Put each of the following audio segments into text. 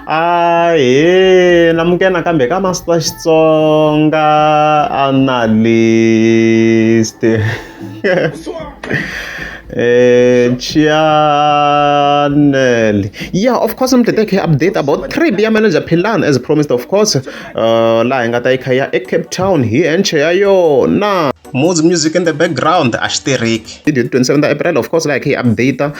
Ahee na muke nakambe ka Master Xitsonga Analyst eh channel yeah of course I'm today update about trip ya manager Philan as promised of course uh laha hi nga ta yi kha ya eCape Town hi enche ya yona Moods music in the background a xi tirhiki hi 27 ta april of course like hi update uh,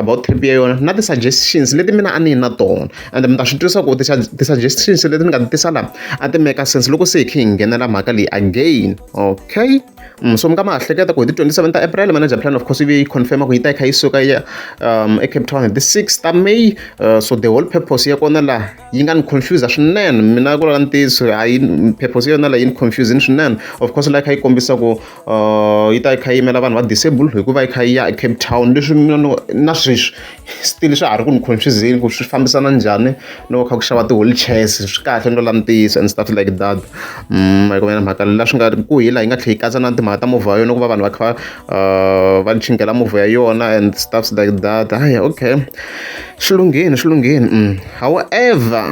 about trip ya yona na ti-suggestions leti mina a ni na tona and mi ta swi twisa ku ti-suggestions leti ni nga ti tisa laha a ti meka sense loko se hi khe hi nghenela mhaka leyi again okay mm, so mi nga ma hleketa ku hi ti-27 ta april manager plan of course yi confirma ku yi ta yi kha yi suka ya um, ecape town hi ti-6 ta may uh, so the whole purpose ya kona laha yi nga ni confuse swinene mina ku lava ntiyiso hayi purpose yona leyi ni confusing swinene of course la kha yi kombisa ku uh, yi ta yi kha yi yimela vanhu va disable hikuva yi kha yi ya ecape town leswi mina na sweswi still swa ha ri ku ni confusing ku swi fambisana njhani loko kha ku xava ti-holy chairs swi kahle ni lola ntiyiso and stuff like that mm, hikumena mhaka la swi nga ku hi laha yi nga tlhe yi katsa na timhaka ta movha yona ku va vanhu va kha uh, va chingela movha ya yona and stuffs like that haya okay Xilungheni xilungheni um however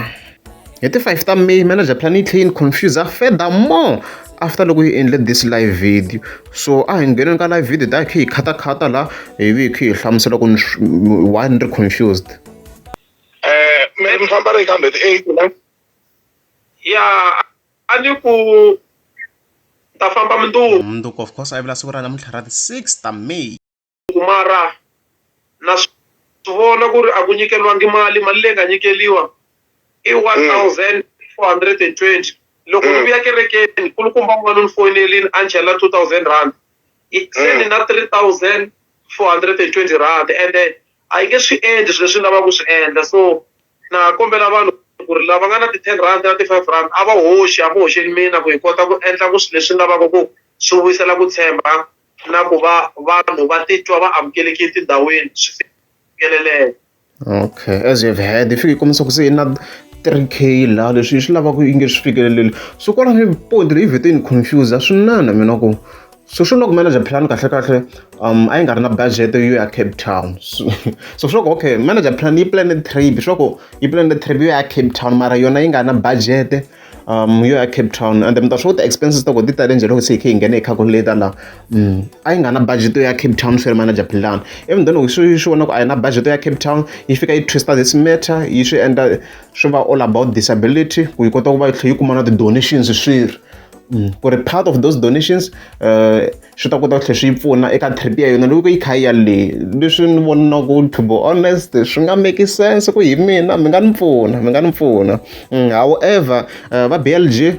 hi ti 5 ta may manager plan yi tlhe yi ni confuser further more after loko yi endle this live video so a hi ngheneni ka live video ta hi khe hi khatakhata la hi vi hi khe hi hlamusela ku why ni ri confused eh me ni famba ri kambe ti 8 la ya a ni ku ta famba mundzuku mundzuku of course a yi vula siku ra namuntlha ra ti 6 ta may ku mara na swi vona ku ri a ku nyikeriwangi mali mali leyi nga nyikeriwa i one hmm. thousand four hundred and twenty loko ni hmm. vuya kerekeni kulukumba n'wana ni foyinelini a ni chela two thousand rand se ni hmm. na three thousand four hundred and twenty rand ende a yi nge swi endli swilo leswi ni lavaka ku swi endla so na kombela vanhu ku ri lava nga na ti-ten rand na ti-five rand a va hoxi a va hoxeli mina ku hi kota ku endla ku swilo leswi ni lavaka ku swi vuyisela ku tshemba na ku va vanhu va titwa va amukelekile etindhawini swi fikeleleka okay as you've heard if yi kombisa ku se na 3k laha leswi yi swi lavaka yi nge swi fikeleleli so kwala ni point leyi vhete ni confuse a swi nana mina ku so swi loko manager plan kahle kahle um a yi nga ri na budget yo ya cape town so so swi loko okay manager plan yi plane trip swi loko yi plane trip yo ya cape town mara yona yi nga na budget yo ya Cape Town ende mi ta swi vona ku ti-expenses ta kona ti tale njhani loko se hi kha hi nghena hi calculator laha. A yi nga ri na budget ya Cape Town ferry manager Philani, even though loko se yi swi vona ku a yi na budget ya Cape Town, yi fika yi twist-a this matter yi swi endla swi va all about disability ku yi kota ku va yi tlhela yi kuma na ti-donations swirho ku ri part of those donations . swi ta kota ku tlhela swi yi pfuna eka trip ya yona loko yi kha yi ya le leswi ni vonaka to be honest swi nga make sense ku hi mina mi nga ni pfuna mi nga ni pfuna mm, however uh, va blg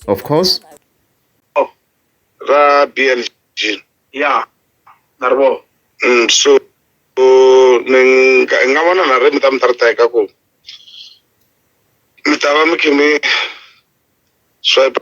of course oh, va blg ya na ri vona mm, so ni nga vona na ri mi ta mi ta ri teka ku mi ta va mi khe mi swipe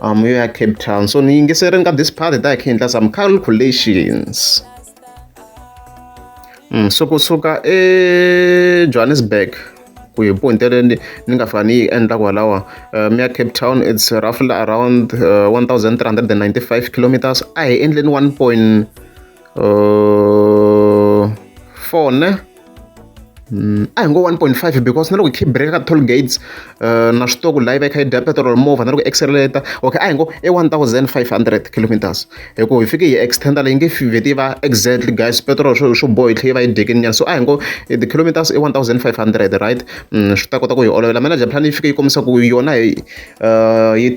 Um, yo ya Cape Town. So ni yingiserini ka this part ta hi khe endla some calculations. Mm, so kusuka eJohannesburg ku hi ponte leyi ni nga fika ni yi endla kwalawa um ya cape town it's roughly around uh, 1395 kilometers a hi endleni 1 point uh, four ne Mm, a hi ngo 1.5 because na loko hi breka ka toll gates uh, na swi tiva ku layi va yi kha yi dya petrol movha na loko accelerator okay a hi ngo i 1500 kilometers hi ku hi fike hi extenda leyi nge fiveti va exactly guys petrol swo swo boha yi tlhe yi va yi dyekini nyana so a hi ngo eh, the kilometers i 1500 right mm, swi ta kota ku hi olovela manager plan yi fike yi kombisa ku yona hi yi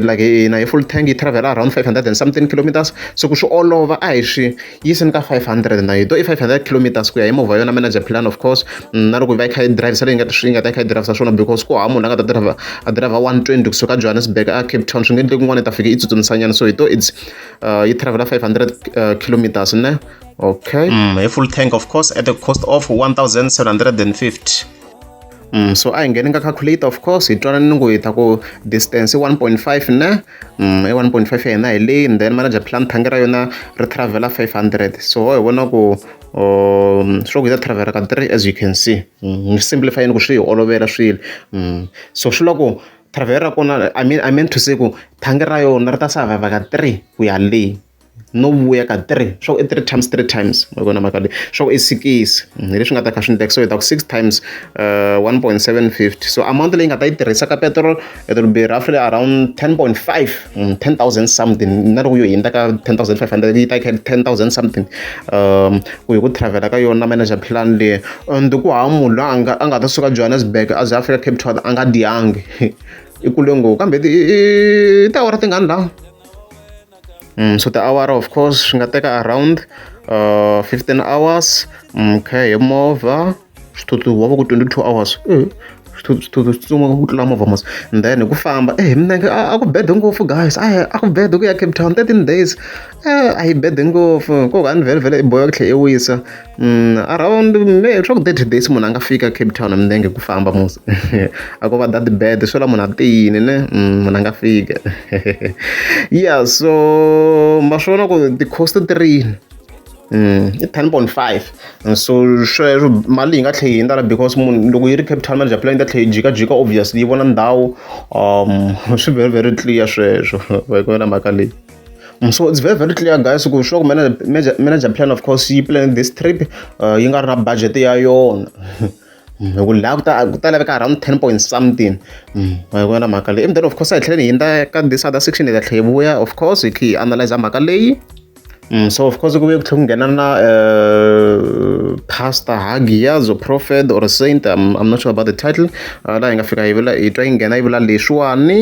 like hina hi full tank yi travel-a around five hundred and something kilometers se ku swi olova a hi swi yisini ka five hundred na yi to i five hundred kilometers ku ya hi movha yona manager plan of course mm, na loko yi va yi kha yi drivisa leyi nga yi nga ta yi kha yi drivisa swona because ku hava munhu a nga ta driver a driver one twenty kusuka johannesburg a cape town swi nge endle kun'wana yi ta fika yi tsutsumisanyana so hi to its uh, yi travel-a five hundred uh, kilometers ne okay mm, hi full tank of course at the cost of one thousand seven hundred and fifty Mm, so a hi ngheni ka calculator of course hi twanani ni ku hi ta ku distance i 1.5 ne mm, i 1.5 ya hina hi leyi and then manager plan thangi ra yona ri travela 500 so hi vona ku um, swo ku hi ta travela ka 3 as you can see mm, ni mm, simplify ni ku swi hi olovela swilo mm. so swi loko travela ra kona I mean, I meant to say ku thangi ra yona ri ta survive ka 3 ku ya leyi no vuya ka three swa ku i three times three times ma vona mhaka leyi swa ku i sikisi hi leswi nga ta kha swi ni tekisa hi ta ku six times uh, one point seven fifty so amount leyi nga ta yi tirhisa ka petrol it will be roughly around ten point five mm, ten thousand something na loko yo hindza ka ten thousand five hundred yi ta yi ten thousand something um ku hi ku travela ka yona manager plan leyi and ku hava munhu loyi a nga a nga ta suka johannesburg a ze a fika cape town a nga diyangi i kule ngopfu kambe i tiawara tingani laha Mm, so tiawara of course swi nga teka around uh, 15 hours mm, okay hi movha swithuthi wa va ku 22 hours eh, swithuthi swi tsuma ku tlula movha mos and then hi ku famba eh hi minenge a ku bede ngopfu guys a a ku bede ku ya cape town 13 days eh, a yi bede ngopfu ko ka ni vhele vhele i boya ku tlhe i wisa around swa ku thirty days munhu a nga fika Cape Town hi milenge hi ku famba mos a ko va that bad swi vula munhu a tiyini ne munhu a nga fika ya so ma swi vona ku ti-coast ti ri yini i ten point five so sweswo mali yi nga tlhela yi ndala because munhu loko yi ri Cape Town manager plan yi ta tlhela yi jikajika obviously yi vona ndhawu swi very very clear sweswo hi ku vona mhaka leyi. Mm, so it's very very clear guys ku sure manager, manager plan of course yi plan this trip uh, yi nga ri na budget ya yona hi ku laha ku ta ku ta laveka around ten point something mm, hi ku na mhaka leyi and then of course hi tlhela hi hindza ka this other section hi ta tlhela hi vuya of course hi tlhela hi analyze mhaka leyi Mm, so of course ku ve ku tlhela ku nghena na uh, pastor hagiyazo prophet or saint I'm, i'm not sure about the title uh, laha hi nga fika hi vula hi twa yi nghena yi vula leswiwani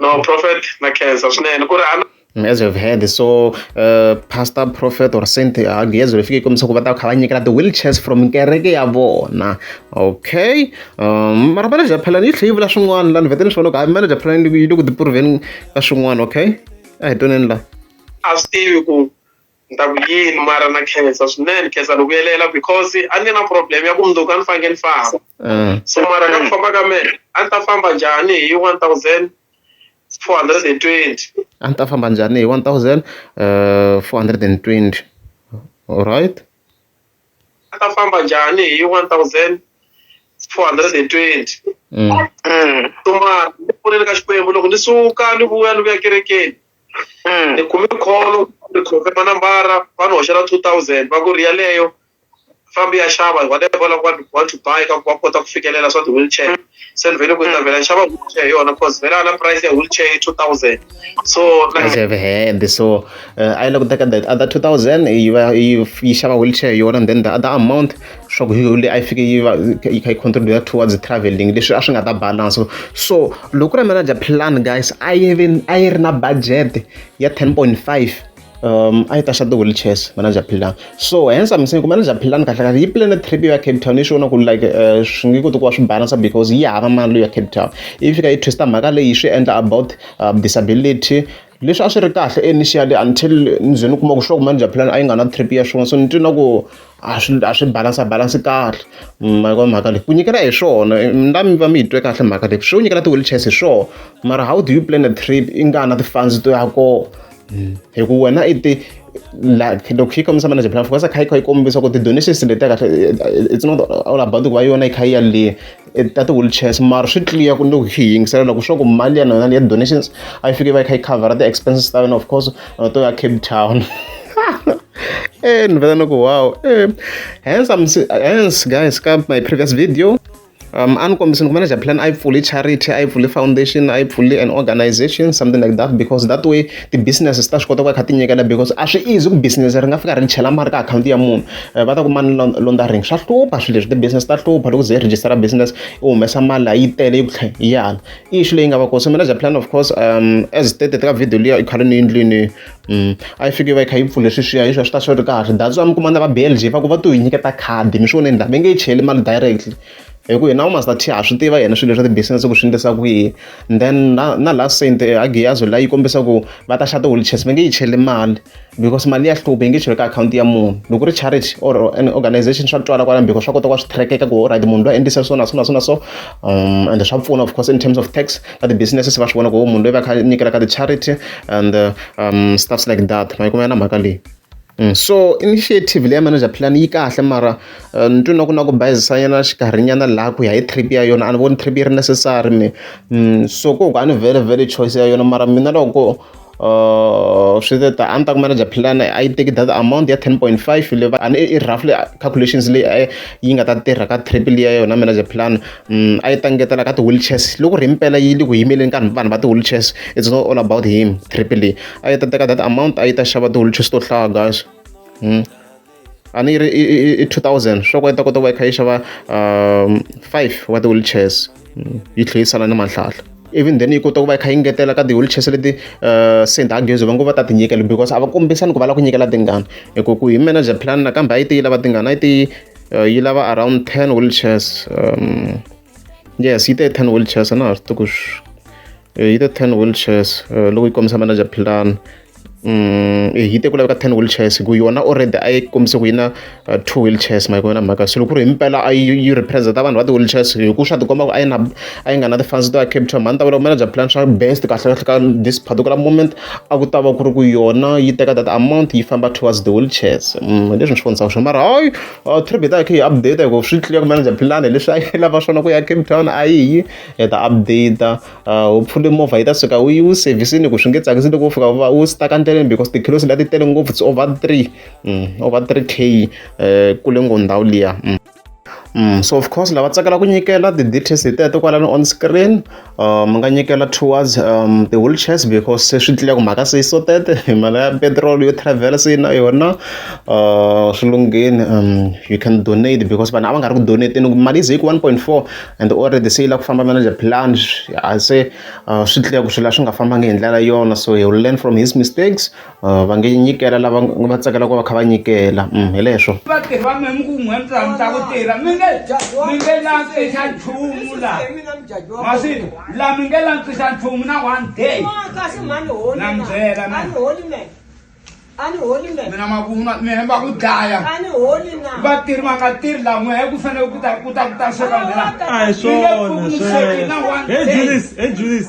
no prophet na khensa swinene ku ri as we've heard so uh, pastor prophet or saint angiyeze uh, lifike kombisa ku va ta kha va nyikela ti-wheelchairs from kereke ya vona okay um, mara manager phalani yi tlhe yi vula swin'wana la ni vete ni swona ku hayi manager phalani yi le ku tipuruvheni ka swin'wana okay a hi toneni la a swi tivi ku Ni ta ku yini mara na khensa swinene khensa ni vuyelela because a ni na problem ya ku mundzuku a ni fanekele ni famba mm. so mara ka ku famba ka mina a ni ta famba njhani hi one thousand four hundred and twenty a ni ta famba njhani hi one thousand uh, four hundred and twenty alright a ta famba njhani hi one thousand four hundred and twenty mm. mm. so mara ni pfuneni ka xikwembu loko ni suka ni vuya ni vuya kerekeni ni kume call ni khome manambara va ni hoxela two thousand va ku ri yaleyo fambi ya xava whatever va lava want to buy ka ku va kota ku fikelela swa ti-wheelchair se ni vele ku ta vhela xava wheelchair hi yona because vhela na price ya wheelchair i two thousand so price of hand so uh, i looked at that other two thousand yi va yi yi xava wheelchair hi yona and then the other amount swa ku leyi a yi fike yi va yi kha yi contribute towards traveling leswi a swi nga ta balance so loko ri manager plan guys a yi ve a yi ri na budget ya 10.5 um a yi ta xa ti-wheelchairs manager plan so hence i'm saying ku manager plan kahle kahle yi plane trip ya cape town yi swi vona ku like eh, swi nge koti ku va swi balance because yi hava mali ya cape town yi fika yi twista mhaka leyi swi endla about um, disability leswi a swi ri kahle initially until ndzeni u kuma ku sure ku manager plan a yi nga na trip ya swin'wana so ni twi na ku a swi a swi balansa balansi kahle mhaka mhaka leyi ku nyikela hi swona na mi va mi yi twe kahle mhaka leyi swi nyikela ti-wheelchairs hi swona mara how do you plan a trip i nga na ti-funds to ya kona hmm. hi ku wena i ti loko yi kombisa manager plan fokasa kha yi kha yi kombisa ku ti-donations letiya kahle it's not all about ku va yona yi kha yi yaleyo ta ti-wheelchairs mara swi clear ku ni hi yingisela loko swa ku mali ya nona ya donations a yi fike va yi kha yi cover ti-expenses ta yona of course na to ya cape town e ni vela ni ku wow e hence am hence guys ka my previous video um a ni kombisini ku manager plan a yi pfuli charity a yi pfuli foundation a yi pfuli an organization something like that because that way ti-businesses ta swi kota ku va kha ti nyikela because a swi easy ku business ri nga fika ri chela mali ka akhawunti ya munhu eh, va ta ku mani laundering swa hlupha swilo leswi ti-business ta hlupha loko ze register business u humesa mali yi tele yi tlhe yi yala i xi leyi nga va koso manager plan of course um as stated ka video liya i khale ni yindlwini mm, a yi fike va yi kha yi pfule sweswiya hi swa swi ta swi ri kahle that's why mi kuma na va blg va ku va to yi nyiketa khadi mi swi voneni laha mi nge yi cheli mali directly hi ku yena u master t ha swi tiva yena swilo swa ti-business ku swi endlisa kwihi and then na na last saint eh, agiyazo la yi kombisa ku va ta xa ti-wheelchairs va nge yi cheli mali because mali ya hluva yi nge cheriwi ka akhawunti ya munhu loko ri charity or an organization swa twala kwala because swa kota ku swi trackeka ku right munhu loyi endlise so na so na so na so um and swa pfuna of course in terms of tax ka ti-businesses va swi vona ku munhu loyi va kha nyikela ka ti-charity and uh, um stuffs like that ma yi kumela na mhaka leyi Mm. so initiative leya manager plan yi kahle mara uh, ni twi na ku na ku bayizisanyana xikarhinyana laha ku ya hi trip ya yona a ni voni trip yi ri necessary me mm. so ku ku a ni very very choice ya yona mara mina loko Uh, swi ta a ni ta ku manager plan a yi teki that amount ya 10.5 leyi va ani i roughly calculations leyi eh, yi nga ta tirha ka triple ya yona manager plan mm, a yi ta ngetela ka ti-wheelchairs loko ri mpela yi le ku yimeleni ka vanhu va ti-wheelchairs it's not all about him triple a yi ta teka that amount a yi ta xava ti-wheelchairs to hlaya guys mm. a ni yi ri i i i two thousand swa ku yi ta kota ku va yi kha yi xava um five wa ti-wheelchairs mm, yi tlhe yi sala ni manhlahla even then yi kota ku va yi kha yi ngetela ka ti-wheelchairs leti um saint agezi va ngo va ta ti nyikela because a va kombisani ku va lava ku nyikela tingani hi ku ku hi manager plan nakambe a yi te yi lava tingani a yi te yi uh, yi lava around ten wheelchairs um yes yi te ten wheelchairs a na ha swi tiku eh, yi te ten wheelchairs eh, loko yi kombisa manager philani Mm, eh, yi te ku laveka ten wheelchairs ku yona already a yi kombise ku yi na uh, two wheelchairs ma yi kona mhaka se loko ku ri hi mpela a yi representa vanhu va ti-wheelchairs hi ku swa tikomba ku a yi na a yi nga na ti-funds to ya cape town mhani ta vula ku manager plan swa best kahle kahle ka this particular moment a ku ta va ku ri ku yona yi teka that amount yi famba towards the wheelchairs mm, leswi ni swi vonisaka swo mara hayi or trip hi ta hi kha hi update hi ku swi tlula ku manager plan leswi a yi lava swona ku ya cape town a yi yi hi ta update uh, hopefully movha yi ta suka u yi u servicini ku swi nge tsakisi loko u fika va u stuck endleleni because tikhilosi leti tele ngopfu it's over three mm, over three k um kule ngo ndhawu liya mm. Mm, so of course lava tsakela ku nyikela ti-details hi teto kwalani on screen mi nga nyikela towards ti-wheelchairs because se swi tlula ku mhaka se yi so tete hi mhaka ya petiroli yo travel-a se yi na yona swi lungheni you can donate because vanhu a va nga ri ku donate-eni loko mali yi ze yi ku one point four and already se yi lava ku famba na le plan se swi tlula ku swilo a swi nga fambangi hi ndlela yona so he will learn from his mistakes. va nge nyikela lava va tsakela ku va kha va nyikela hi leswo vatirhi va mina mi ku n'we mi tsanisa ku tirha mi nge mi nge lantsisa nchumu la masi la mi nge lantsisa nchumu na one day na mi byela mina makuma mina va ku dlaya vatirhi va nga tirhi la n'we ku fanele ku ta ku ta ku ta sweka ndlela a hi swona swona hey Julius hey Julius